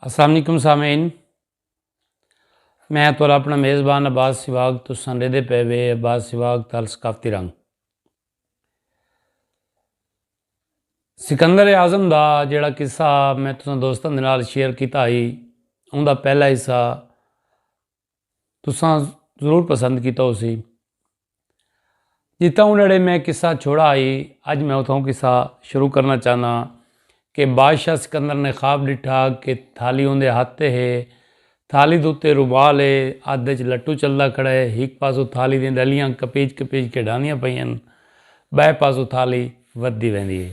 السلام علیکم سامعین میں تو اپنا میزبان عباس سواگ تو سنڈے دے پے وے عباس سواگ تال ثقافتی رنگ سکندر اعظم دا جڑا قصہ میں تساں دوستاں دے نال شیئر کیتا ہی اوندا پہلا حصہ تساں ضرور پسند کیتا ہو سی جتاں انہڑے میں قصہ چھوڑا آئی اج میں اتوں قصہ شروع کرنا چاہنا کہ بادشاہ سکندر نے خواب ڈٹھا کہ تھالی اندے ہاتھ تے ہے تھالی دوتے رومال ہے ہاتھ وچ لٹو چلدا کھڑا ہے ایک پاسو تھالی دیں ڈلیاں کپیج کپیج کے ڈاندیاں پئیاں بائے پاسو تھالی ودی ویندی ہے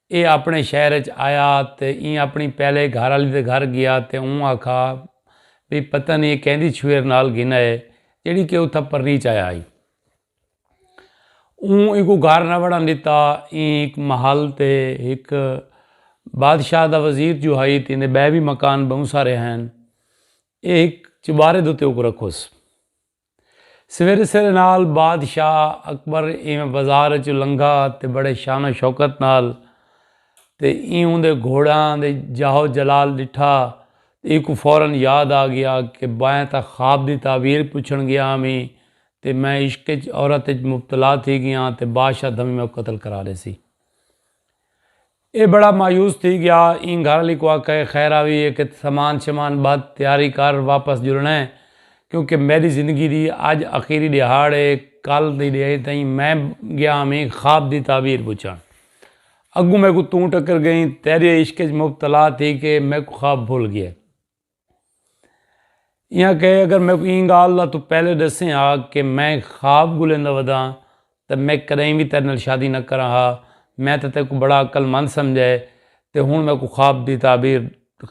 ایہ آپݨے شہر اچ آیا تے ایں آپݨی پہلے گھر آلی دے گھر گیا تے اوں آکھا بھئی پتہ نی ایہ کیندی چھوہر نال گھن آئے جیڑھی کہ اتھاں پرنیچ آیا ہئی۔ اوں اینکوں گھر نہ وڑݨ ݙتا۔ ایں ہک محل تے ہک بادشاہ دا وزیر جو ہئی تے ایندے ٻئے وی مکان ٻہوں سارے ہن۔ ایہ ہک چبارے دے اتے اوکوں رکھوس۔ سویرے سویرے نال بادشاہ اکبر ایویں بازار اچوں لنگھا تے بڑے شان و شوکت نال تے ایں اوندے گھوڑیاں دے جاہ و جلال ڈٹھا تے ایکوں فورا یاد آ گیا کہ بائیں تاں خواب دی تعبیر پچھن گیا ہاویں تے میں عشق اچ عورت اچ مبتلا تھی گیاں تے بادشاہ دھمی میکوں قتل کرا ڈیسی۔ اے بڑا مایوس تھی گیا ایں گھر آلی کو آکھے خیر آوی اے کت سامان شمان بدھ تیاری کر واپس جلنڑا اے کیونکہ میڈی زندگی دی اج اخیری ڈیہاڑ اے کل دی ڈیہہ تئیں میں گیا ہویں خواب دی تعبیر پچھنڑ اگوں میکوں توں ٹکر گئیں تیڈے عشق اچ مبتلا تھی کے میکوں خواب بھل گئے۔ ایاں کہ اگر میں کو این گال دا تو پہلے ڈسیں ہا کہ میں خواب گلیندا ودا تے میں کدیں وی تیرے نال شادی نہ کراں ہا میں تے تیکوں بڑا عقل مند سمجھا ہے تے ہن میں کو خواب دی تعبیر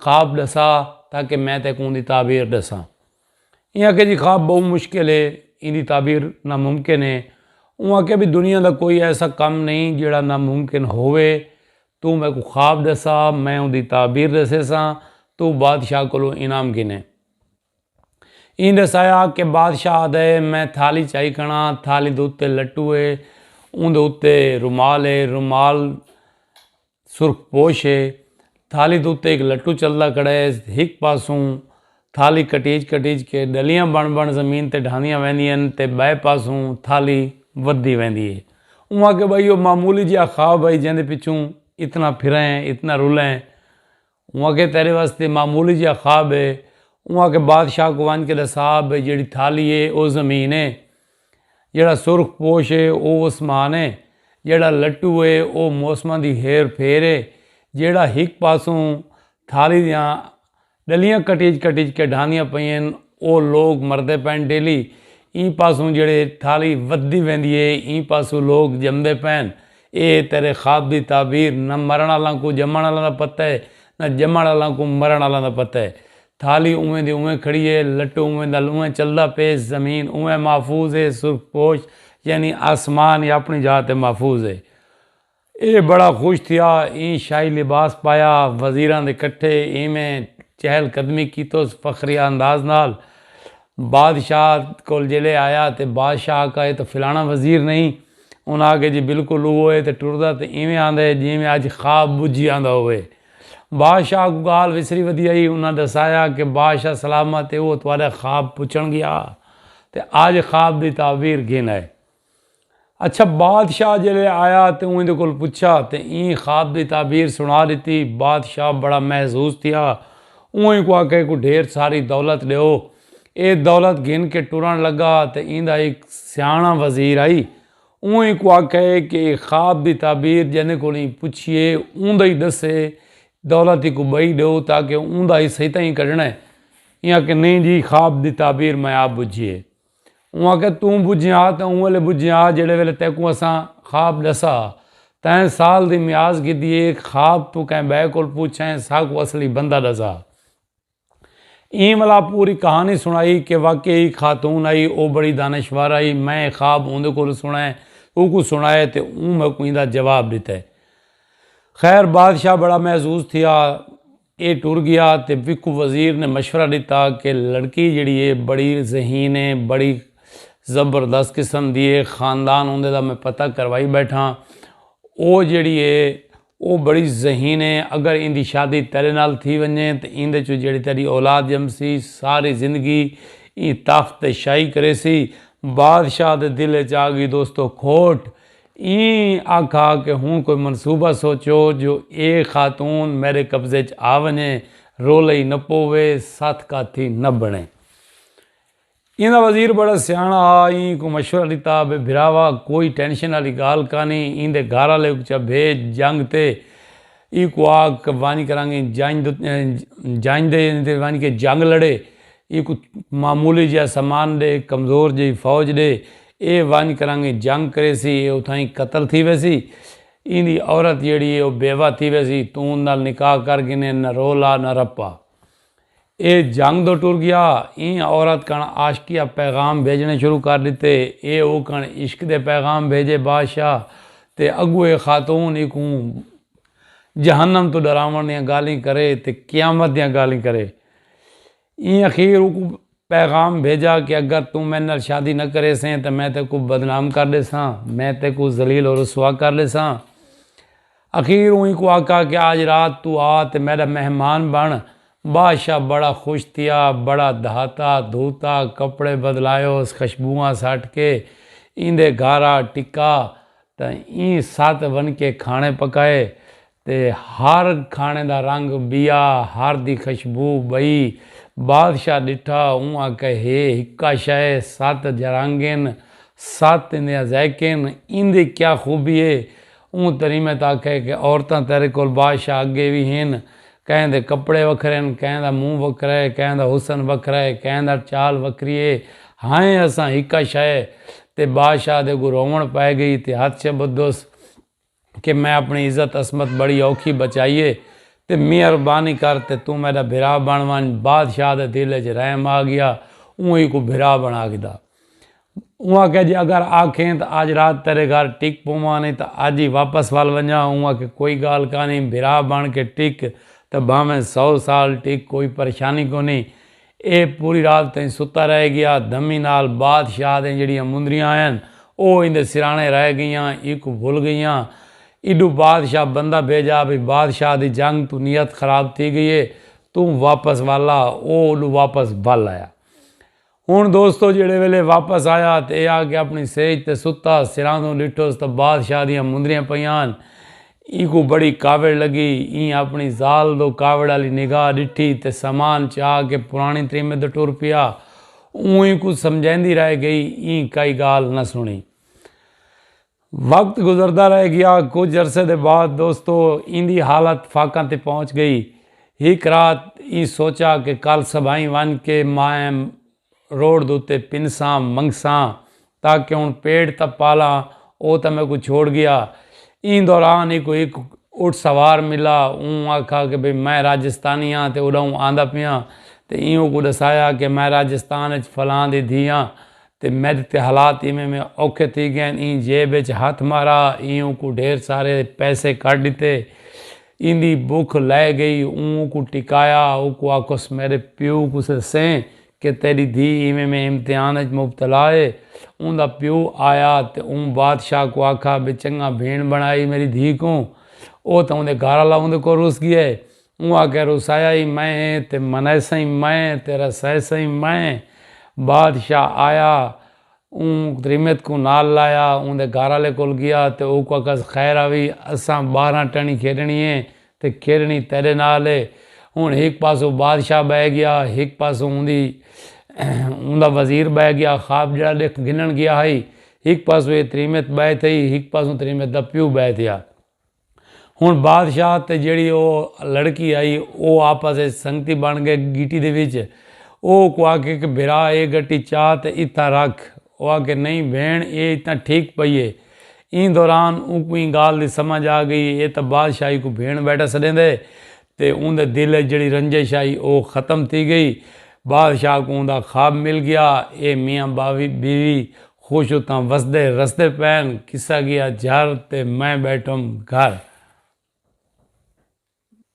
خواب ڈسا تاکہ میں تیکوں اون دی تعبیر ڈساں ایاں کہ جی خواب بہوں مشکل ہے این دی تعبیر نا ممکن ہے اوہاں کہ بھی دنیا دا کوئی ایسا کم نہیں جیڑا نا ممکن ہووے توں میکوں خواب ڈسا، میں اوندی تعبیر ڈسیساں، توں بادشاہ کولوں انعام گھنے۔ ایں ڈسایا کہ بادشاہ آہدا ہے، میں تھالی چائی کنڑاں، تھالی دے اتے لٹو ہے، اوندے اتے رومال ہے، رومال سرخ پوش ہے، تھالی دے اتے ہک لٹو چلدا کھڑا ہے، ہک پاسوں تھالی کٹیج کٹیج کے ڈلیاں بݨ بݨ زمین تے ڈھاندیاں ویندین تے بئے پاسوں تھالی ودھدی ویندی اے۔ اوں آکھیا بھائی او معمولی جیہا خواب ہئی جیندے پچھوں اتنا پھرئیں اتنا رلئیں۔ اوں آکھیا تیڈے واسطے معمولی جیہا خواب اے۔ اوں آکھیا بادشاہ کوں ونج کے ڈسا بھئی جیڑھی تھالی اے او زمین اے۔ جیڑھا سرخ پوش اے او اسمان اے۔ جیڑھا لٹو اے او موسماں دی ہیر پھیر اے۔ جیڑھا ہک پاسوں تھالی دیاں ڈلیاں کٹیج کٹیج کے ڈھاندیاں پئین او لوگ مردے پئن ڈیلی ایں پاسوں جیڑھے تھالی ودھدی ویندی اے ایں پاسوں لوگ جمدے پئن اے تیرے خواب دی تعبیر نہ مرن آلاں کوں جمن آلاں دا پتہ اے نہ جمن آلاں کوں مرن آلاں دا پتہ اے تھالی اونویں دی اونویں کھڑی اے لٹو اونویں دا اونویں چلدا پئے زمین اونویں محفوظ اے سرخ پوش یعنی آسمان اپنی جاہ تے محفوظ اے۔ اے بڑا خوش تھیا ایں شاہی لباس پایا وزیراں دے کٹھے اینویں چہل قدمی کیتوس فخریہ انداز نال بادشاہ کول جیلے آیا تے بادشاہ آکھا اے تاں فلانا وزیر نہیں انہاں آکھیا جی بالکل اوہو اے تے ٹردا تے اینویں آندا اے جینویں اج خواب بجھی آندا ہووے بادشاہ کوں گالھ وسری ودی ہئی انہاں ڈسایا کہ بادشاہ سلامت اے اوہ تہاڈا خواب پچھن گیا تے اج خواب دی تعبیر گھن آئے۔ اچھا بادشاہ جلے آیا تے اوں ایندے کول پچھا تے ایں خواب دی تعبیر سنا ڈتی بادشاہ بڑا محظوظ تھیا اوں ایکوں آکھیا ایکوں ڈھیر ساری دولت ڈیو اے دولت گھن کے ٹرن لگا تے ایندا ہک سیاݨا وزیر آئی اوں ایکوں آکھیا اے کے اے خواب دی تعبیر جیندے کول ایں پچھیے اوندا ای ڈسے دولت ایکوں بئی ڈیو تاکہ اوندا حصہ ہی تاں ہی کڈھنا اے ایں آکھیا نئیں جی خواب دی تعبیر میں آپ بجھیے اوں آکھیا توں بجھیں آ تاں اوں ویلے بجھیں آ جیڑھے ویلے تیکوں اساں خواب ڈسا ہا تائیں سال دی میعاز گھدی اے خواب توں کہیں بئے کول پوچھیں ساکوں اصلی بندہ ڈسا ایں ولا پوری کہانی سنڑائی کہ واقعی ہک خاتون آئی او بڑی دانشور آئی میں اے خواب اوندے کولوں سنڑیں اوکوں سنڑائے تے اوں میکوں ایندا جواب ڈتے خیر بادشاہ بڑا محظوظ تھیا اے ٹر گیا تے وکو وزیر نے مشورہ ڈتا کہ لڑکی جیڑھی اے بڑی ذہین اے بڑی زبردست قسم دی اے خاندان اوندے دا میں پتہ کروائی بیٹھاں او جیڑھی اے او بڑی ذہین اے اگر ایندی شادی تیڈے نال تھی ونجے تے ایندے چوں جیڑھی تیڈی اولاد جمسی ساری زندگی ای تخت تے شاہی کریسی بادشاہ دے دل اچ آگئی دوستو کھوٹ ایں آکھا کہ ہن کوئی منصوبہ سوچو جو اے خاتون میڈے قبضے اچ آ ونجے، رولئی نہ پووے، ست کاتھی نہ بنڑے۔ ایندا وزیر بڑا سیانڑا ہا، ایں کوں مشورہ ڈتا بھئی بھراوا کوئی ٹینشن آلی گالھ کانھی، ایندے گھر آلے کوں چا بھیج جنگ تے۔ ایں کوں آکھ ونج کرانگے جنج دے تے ونج کے جنگ لڑے ایں کوں معمولی جیہا سامان ڈے کمزور جیہی فوج ڈے اے ونج کرانگے جنگ کریسی اے اتھائیں قتل تھی ویسی ایں دی عورت جیہڑی اے او بیوہ تھی ویسی توں نال نکاح کر گھنے نہ رولا نہ رپا۔ اے جھنگ دو ٹر گیا۔ ایں عورت کن عاشقیہ پیغام بھیجنے شروع کر ڈتے۔ اے او کن عشق دے پیغام بھیجے بادشاہ تے اگو اے خاتون ایکوں جہنم توں ڈراون دیاں گالھیں کرے تے قیامت دیاں گالھیں کرے۔ ایں اخیر اوکوں پیغام بھیجا کہ اگر توں میڈے نال شادی نہ کریسیں تاں میں تیکوں بدنام کر ڈیساں، میں تیکوں ذلیل و رسوا کر ڈیساں۔ اخیر اوں اینکوں آکھا کہ آج رات توں آ تے میڈا مہمان بن۔ بادشاہ بڑا خوش تھیا، بڑا دھاتا دھوتا، کپڑے بدلایوس، خشبواں سٹ کے ایندے گھر آ ٹکا تاں ایں ست ونکے کھانے پکائے۔ تے ہر کھاݨے دا رنگ ٻیا ہر دی خشبو ٻئی بادشاہ ݙٹھا اوں آکھیا ہے ہکا شئے ست جرانگین ست ایندیاں ذائقین ایندی کیا خوبی ہے اوں تریمت آکھیا کہ عورتاں تیرے کول بادشاہ اڳے وی ہن کہیں دے کپڑے وکھرے ہن کہیں دا منہ وکھرا ہے کہیں دا حسن وکھرا ہے کہیں دا چال وکھری ہے ہائیں اساں ہکا شئے تے بادشاہ دے اڳوں رووݨ پئے ڳئی تے ہتھ شبدس کہ میں اپݨی عزت عصمت بڑی اوکھی بچائی ہے تے مہربانی کر تے توں میݙا بھرا بݨ ونڄ بادشاہ دے دل اچ رحم آ ڳیا اوں ایکوں بھرا بݨا گھدا اوں آکھیا جے اگر آکھیں تاں اڄ رات تیݙے گھر ٹک پوواں نئیں تاں اڄ ای واپس ول ونڄاں اوں آکھیا کوئی ڳالھ کائنی بھرا بݨ کے ٹک تے بھانویں سو سال ٹک کوئی پریشانی کونی ایہ پوری رات تئیں ستا رہ گیا۔ دھمی نال بادشاہ دیاں جیڑھیاں مندریاں ہن او ایندے سرانے رہ گئیاں۔ ایکوں بھل گئیاں۔ ایڈو بادشاہ بندہ بھیجا بھئی بادشاہ دی جنگ توں نیت خراب تھی گئی ہے۔ توں واپس والا او اوڈو واپس بھل آیا۔ ہن دوستو جیڑھے ویلے واپس آیا تے ایہ آکھیا اپنی سیج تے ستا سراندوں ڈٹھوس تاں بادشاہ دیاں مندریاں پئیاں ہن۔ اینکوں بڑی کاوڑ لگی۔ ایں آپنڑی ذال دو کاوڑ آلی نگاہ ڈٹھی تے سامان چا کے پرانڑیں تریمے دو ٹر پیا۔ اوں اینکوں سمجھایندی رہ گئی۔ ایں کئی گالھ نہ سنڑی۔ وقت گزردا رہ گیا۔ کجھ عرصے دے بعد دوستو ایندی حالت فاقاں تے پہنچ گئی۔ ہک رات ایں سوچا کہ کل صبحائیں ونج کے مائیں روڑ دے اتے پنساں منگساں تاں کہ ہن پیٹ تاں پالاں او تاں میکوں چھوڑ گیا ایں دوران ای کوئی ہک اٹھ سوار ملا اوں آکھا کہ بھئی میں راجستانی ہاں تے اڈاؤں آندا پیاں تے ایں اوکوں ڈسایا کہ میں راجستان اچ فلاں دی دھی ہاں تے میڈے تے حالات ایویں ایویں اوکھے تھی گئین ایں جیب اچ ہتھ مارا ایں اوکوں ڈھیر سارے پیسے کڈھ ڈتے ایندی بکھ لہہ گئی اوں کوں ٹکایا اوکوں آکھس میڈے پیو کوں سسیں کہ تیڈی دھی ایویں میں امتحان اچ مبتلا اے اوندا پیو آیا تے اوں بادشاہ کوں آکھا بے چنگا بھینڑ بنڑائی میڈی دھی کوں او تاں اوندے گھر آلا اوندے کول رس گیا اے اوں آکھیا رسایا ای میں اے تے منائساں ای میں اے تے رسائساں ای میں اے بادشاہ آیا اوں تریمت کوں نال لایا اوندے گھر آلے کول گیا تے اوکوں آکھس خیر آوی اساں ٻاہراں ٹݨی کھیݙݨی اے تے کھیݙݨی تیݙے نال اے ہݨ ہک پاسوں بادشاہ ٻہہ گیا ہک پاسوں اوندی اوندا وزیر ٻہہ گیا خواب جیڑھا ݙیکھ گھنݨ گیا ہئی ہک پاسوں اے تریمت ٻہہ تھئی ہک پاسوں تریمت دا پیو ٻہہ تھیا۔ ہݨ بادشاہ تے جیڑھی او لڑکی آئی او آپس اچ سنگتی بݨ ڳئے گٹی دے وچ او اوکوں آکھے کہ بھرا اے گٹی چا تے اتھاں رکھ او آکھے نئیں بھیݨ اے اتھاں ٹھیک پئی اے ایں دوران اونکوں ایں ڳالھ دی سمجھ آ ڳئی اے تاں بادشاہ ایکوں بھیݨ ٻیٹھا سݙیندے تے اوندے دل اچ جیڑھی رنجش ہئی او ختم تھی گئی۔ بادشاہ کوں اوندا خواب مل گیا۔ اے میاں بیوی خوش اتھاں وسدے رسدے پئن۔ قصہ گیا جھر تے میں بیٹھم گھر۔